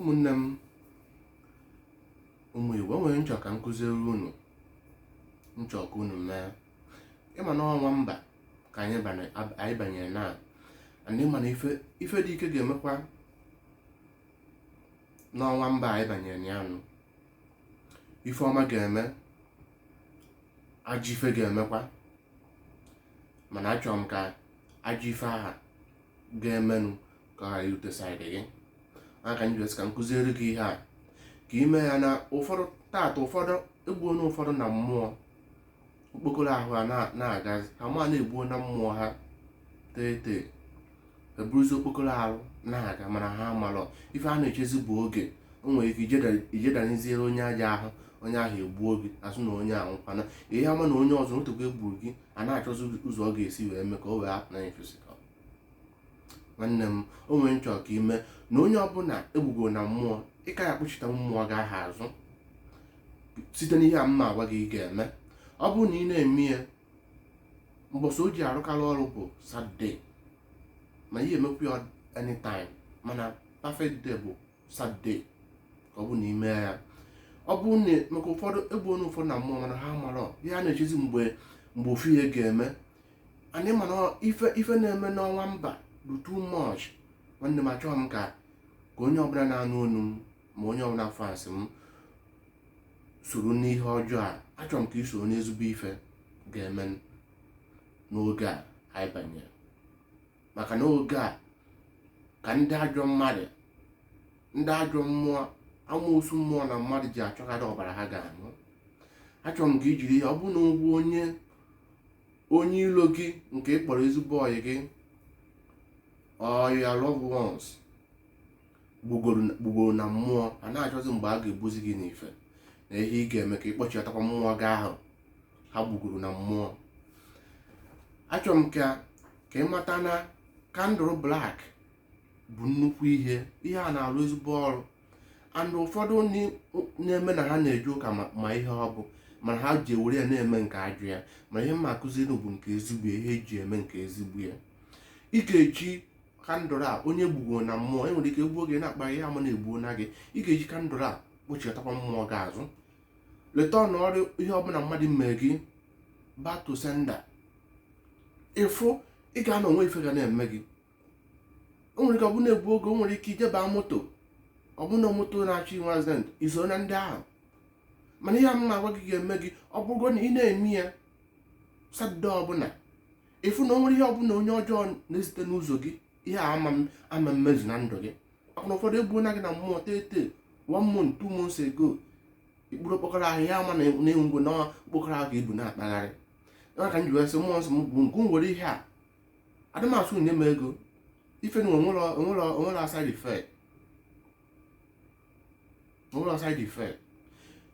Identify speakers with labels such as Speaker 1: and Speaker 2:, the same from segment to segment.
Speaker 1: ụmụnne m ụmụ igbo o nwere ihe m chọ ka m kụziri unu m chọ ka unu mee ị ma na ọnwa mba ka anyị banyere and ị ma na ife dị ike ga-emekwa n'ọnwa mba anyị banyere na ya nụ ife ọma ga-eme ajọ ife ga-emekwa mana achọrọ m ka ajọ ife ahụ ga-emenụ ka ọ ghara irute side gị aka anyị ka m kụziere gị ihe a ka i mee ya na ụfọdụ taata ụfọdụ egbuona ụfọdụ na mmụọ okpokoro ahụ ha na-aga ha ma na egbuo na mmụọ ha tete eburuzi okpokoro ahụ na-aga mana ha amalọ ife a na-echezi bụ oge o nwere ike ijedaniziere onye aja ahụ onye ahụ egbuo gị a sị na onye ahụ kwana ihe ama na onye ọzọ otu egburu gị a na-achọzi ụzọ ọ ga-esi wee mee ka o wee apụ na physical nwanne m o nwere ihe m chọ ka i mee na onye ọbụla egbugo na mmụọ ị ka ya akpọchite mmụọ gị ahụ azụ site n'ihe a m ma agwa gị ị ga-eme ọ bụrụ na ị na-eme ya mbọsị o ji arụkarị ọrụ bụ saturday ma ị ya emekwu ya anytime mana perfect day bụ saturday ka ọ bụ na i mee ya ọ bụ na maka ụfọdụ egbuona ụfọdụ na mmụọ mana ha marọ ihe a na-echezi mgbe ofu ihe ga-eme and ị ma na ife na-eme n'ọnwa mba bụ too much nwanne m achọghị m ka ka onye ọbụla na-anụ onu m ma onye ọbụla fans m soro n'ihe ọjọọ a achọrọ m ka i soro n'ezigbo ife ga-eme n'oge a anyị banyere maka na oge a ka ndị ajọ mmadụ ndị ajọ mmụọ amoosu mmụọ na mmadụ ji achọkarị ọbara ha ga-aṅụ achọrọ m ka i jiri ya ọ bụ na ị bụ onye onye ilo gị nke ị kpọrọ ezigbo ọyị gị or your loved ones gbugoro na mmụọ a na-achọzi mgbe a ga-egbuzi gị n'ife na ihe ị ga-eme ka ị kpọchitakwa mmụọ gị ahụ ha gbugoro na mmụọ achọrọ m ka ka ị mata na candle black bụ nnukwu ihe ihe a na-arụ ezigbo ọrụ and ụfọdụ ndị na-eme na ha na-eje ụka ma- ma ihe ọ bụ mana ha ji ewere ya na-eme nke ajọ ya ma ihe m ma akụziri bụ nke ezigbo ya, ihe eji eme nke ezigbo ya ị ga-eji candle a onye egbugo na mmụọ enwere ike gbuo gị na-akpa ihe ama na egbuona gị ị ga-eji candle a kpọchitakwa mmụọ gị azụ return ọrụ ihe ọbụla mmadụ mee gị back to sender ịfụ ị ga-anọ o nwee ife ga na-eme gị o nwere ike ọ bụ na-egbu oge o nwere ike i je ba moto ọ bụ na moto na-achọ inwe accident i so na ndị ahụ mana ihe m na-agwa gị ga-eme gị ọ bụrụgo na ị na-eme ya satọde ọbụla ịfụ na o nwere ihe ọbụla onye ọjọọ na-ezite n'ụzọ gị ihe a ama mmezu na ndụ gị maka na ụfọdụ egbuona gị na mmụọ tete one month two months ago ikpuru okpokoro ahụ ya ama na ị nwụgo na okpokoro ahụ ka i bu na-akpagharị ya ka m ji wee sị mmụọ nsọ m bụ nke nwere ihe a adị m asụ nye m ego ife na o nwere a side effect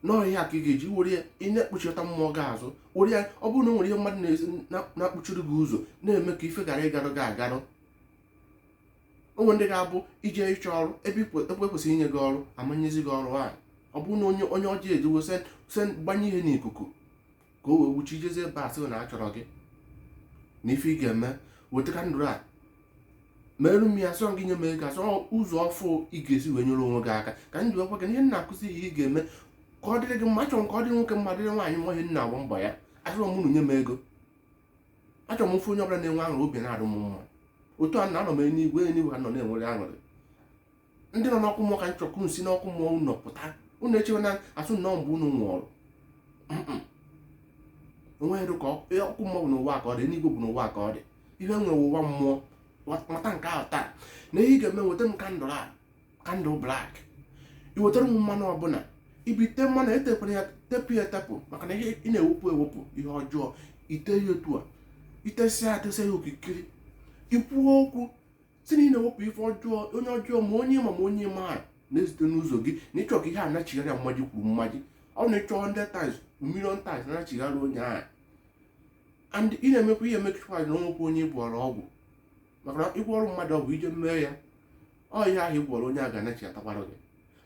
Speaker 1: na ọ ihe a ka ị ga-eji were ya ị na-akpọchita mmụọ gị azụ were ya ọ bụrụ na o nwere ihe mmadụ na-akpọchiri gị ụzọ na-eme ka ife ghara ịgarụ gị agarụ o nwee ndị ga-abụ i je ịchọ ọrụ ebe e kwesịrị inye gị ọrụ a ma nyezi gị ọrụ ahụ ọ bụrụ na onye onye ọjọọ ejiwo incense gbanye ihe n'ikuku ka o wee wuchi ijezi ebe a sị na a chọrọ gị na ife ị ga-eme weta kandụl a merụ m ya sọ gị nye m ego asọ ụzọ ọfụ ị ga-esi wee nyere onwe gị aka ka m ji gwa gị na ihe m na-akụzi ihe ị ga-eme ka ọ dịrị gị mma achọrọ m ka ọ dịrị nwoke mma dịrị nwaanyị mma ihe m na-agba mbọ ya achọrọ m unu nye m ego achọrọ m ịfụ onye ọbụla na-enwe aṅụrị obi na-adụ m mma otu a na anọ m eluigwe eluigwe ha nọ na-enwere aṅụrị ndị nọ n'ọkụ mmụọ ka m chọ ka ụnụ si n'ọkụ mmụọ ụnụ pụta ụnụ echewe na asụ na ọ mgbe ụnụ nwụọrụ o nweghị ka e, ọkụ mmụọ bụ n'ụwa ka ọ dị eluigwe bụ n'ụwa ka ọ dị ihe nwere ụwa mmụọ mata nke ahụ taa na ihe ị ga-eme weta m kandụl a kandụl blak i wetara m mmanụ ọbụla i bite mmanụ etekwara ya tepụ ya etepụ maka na ị na-ewepụ ewepụ ihe ọjọọ i te ya otu a i tesịa atesịa ya okirikiri i kwuo okwu sị na ị na-ewepụ ife ọjọọ onye ọjọọ ma onye ma ma onye maara na-ezite n'ụzọ gị na ị chọ ka ihe a nachigharịa mmaji kwuru mmaji ọ na ị chọ 100 times million times na-achigharị onye ahụ and ị na-emekwa ihe emekwa na o nwekwa onye ị gwọrọ ọgwụ maka na ị gwọọrọ mmadụ ọgwụ i je mee ya ọ ihe ahụ ị gwọrọ onye a ga-anachiatakwara gị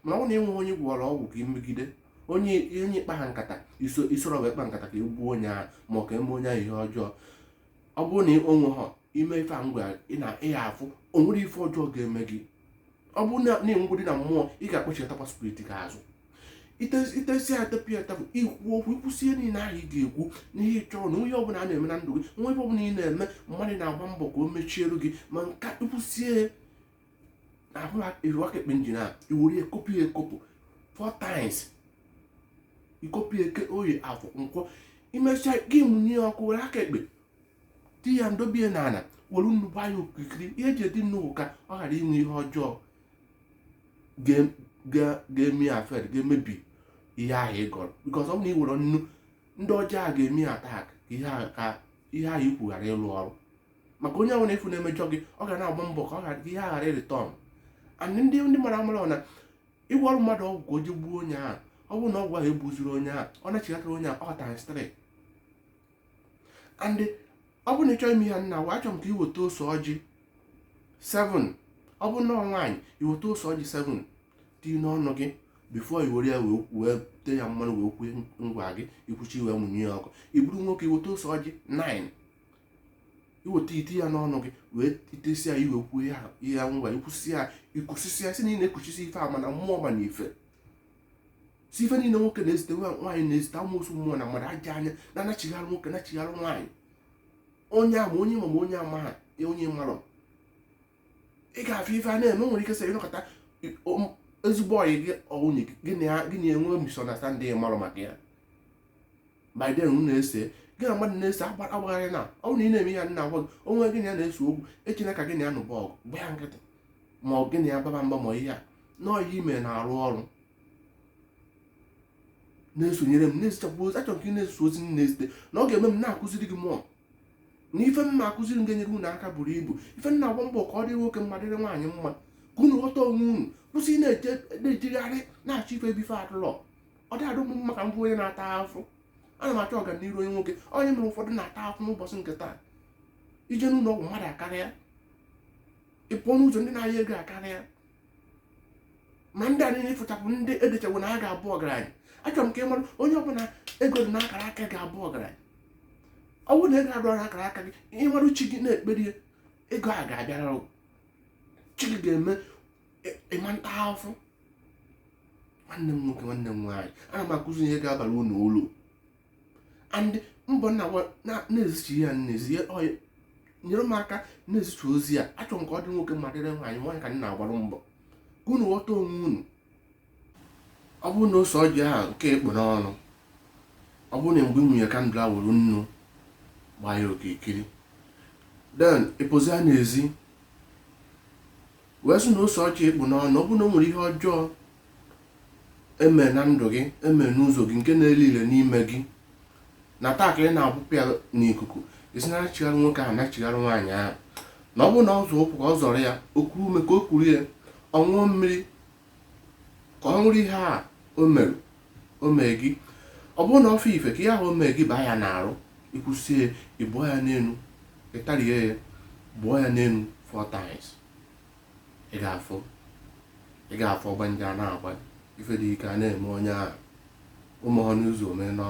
Speaker 1: mana ọ bụrụ na ị nweghị onye ị gwọrọ ọgwụ ka i megide onye onye ị kpa ha nkata iso isoro wee kpa nkata ka e gbuo onye ahụ ma ọ ka e mee onye ahụ ihe ọjọọ ọ bụrụ na o nweho i mee ife a m gwa ị na ị ya-afụ o nwere ife ọjọọ ga-eme gị ọ bụrụ na ị nwụgodi na mmụọ ị ga-akpọchitakwa spirit gị azụ i tesịa tepụ ya etepụ i kwuo okwu i kwusie ihe niile ahụ ị ga-ekwu n'ihe ị chọrọ na onye ọbụla a na-eme na ndụ gị ma ebe ọbụla ị na-eme mmadụ na-agba mbọ ka o mechiere gị ma nka i kwusie ahụ i were aka ekpe njin a i were ekopụ ya ekopụ four times i kopụ eke oye afọ nkwọ i mechaa gị mụnye ọkụ were aka ekpe di ya dobe na ala were nnu gbaa ya okirikiri ihe e ji edi nnu ka ọ ghara inwe ihe ọjọọ ga-eme ya affect ga-emebi ihe ahụ ị gọrọ because ọ bụ na ị were nnu ndị ọjọọ ga-eme ya attack ka ihe ahụ i kwu ghara ịrụ ọrụ maka onye ahụ na-efu na-emejọ gị ọ ga na-agba mbọ ka ọ ghara ihe ahụ ghara ịreturn and ndị ndị mara amara na ị gwọọrọ mmadụ ọgwụ ka o ji gbuo onye ahụ ọ bụrụ na ọgwụ ahụ egbuzirọ onye ahụ ọ na-echighatara onye ahụ ọ times 3 and ọ bụrụ na ị chọọ ime ihe m na-agwa achọrọ m ka i weta ose ọjị 7 ọ bụrụ na ọ nwaanyị i weta ose ọjị 7 dị n'ọnụ gị before i were ya wee wee tee ya mmanụ wee kwue ngwa gị i kwucha wee mụnye ya ọkụ ị bụrụ nwoke i weta ose ọjị 9 i weta i tie ya n'ọnụ gị wee i tesi ya i wee kwue ya ya ngwa i kwusi ya i kwusisi ya si na ị na-ekwuchisi ife eme na mmụọ ma na ife si ife niile nwoke na-ezite nwaanyị na-ezite amụsụ mmụọ na mmadụ ajọ anya na-anachigharị nwoke nachigharị nwaanyị onye ama onye ma onye ama ha onye malụ ị ga-afụ ife a na-eme nwere ike sị ị nọkata ezigbo ọyị gị ọ nwunye gị na ya gị na-enwe misunderstanding malụ maka ya by then unu na-ese gị na mmadụ na-ese agbagharị na ọ na ị na-eme ya m na-agwa gị onwe gị na ya na-ese okwu echena ka gị na ya nụba ọgụ gba ya nkịtị ma ọ gị na ya baba mba ma ihe a na ọ ihe i me na-arụ ọrụ na-esonyere m na-ezichapụ ozi achọrọ ka ị na-eso ozi m na-ezite na ọ ga-eme m na-akụziri gị mmụọ na ife mma akụziri m ga-enyere unu aka buru ibu ife m na-agba mbọ ka ọ dịrị nwoke mma dịrị nwaanyị mma ka unu ghọta onwe unu kwụsị na-ejegharị na-achọ ife ebe ife adụlọ ọ dị adụ m mma ka m bụ onye na-ata afụ ana m achọ ọganihu onye nwoke onye mere ụfọdụ na-ata afụ n'ụbọchị nke taa i je n'ụlọ ọgwụ mmadụ akarịa ị pụọ n'ụzọ ndị na-ayọ ego akarịa ma ndị a niile ị fụcha bụ ndị e dechawo na ha ga-abụ ọgaranya achọrọ m ka ị mara onye ọbụla ego dị n'akara aka ga-abụ ọgaranya ọ bụrụ na ego adụrọ n'akara aka gị ị marụ chi gị na-ekperi ego a ga-abịara chi gị ga-eme ị ma na-ata afụfụ nwanne m nwoke nwanne m nwaanyị ana m akụzi ihe ga-abara unu ulu and mbọ m na-agba na-ezichi ya n'ezi nyere m aka na-ezichi ozi a achọrọ m ka ọ dịrị nwoke mma dịrị nwaanyị nwaanyị ka m na-agbara mbọ ka unu ghọta onwe unu ọ bụrụ na ose ọjị ahụ nke ị kpụ n'ọnụ ọ bụrụ na mgbe ị mụnye candle a were nnu gbaa ya okirikiri then ị pụzịa n'ezi wee sị na ose ọjị ị kpụ n'ọnụ ọ bụrụ na o nwere ihe ọjọọ eme na ndụ gị eme n'ụzọ gị nke na-ele ile n'ime gị na taa ka ị na-abụpụ ya n'ikuku ị sị nachigharị nwoke ahụ nachigharị nwaanyị ahụ na ọ bụrụ na ọ zọ ụkwụ ka ọ zọrọ ya o kuru ume ka o kuru ya ọ ṅụọ mmiri ka ọ nwụrụ ihe a o mere o mee gị ọ bụrụ na ọ fụ ife ka ihe ahụ o mee gị baa ya n'arụ ị kwusie ya ị bụọ ya n'elu ị tarie ya bụọ ya n'elu four times ị ga-afụ ị ga-afụ ọgba nje a na-agba ife dị ike a na-eme onye ahụ ụmụ ọnụ ụzọ omee n'ọnụ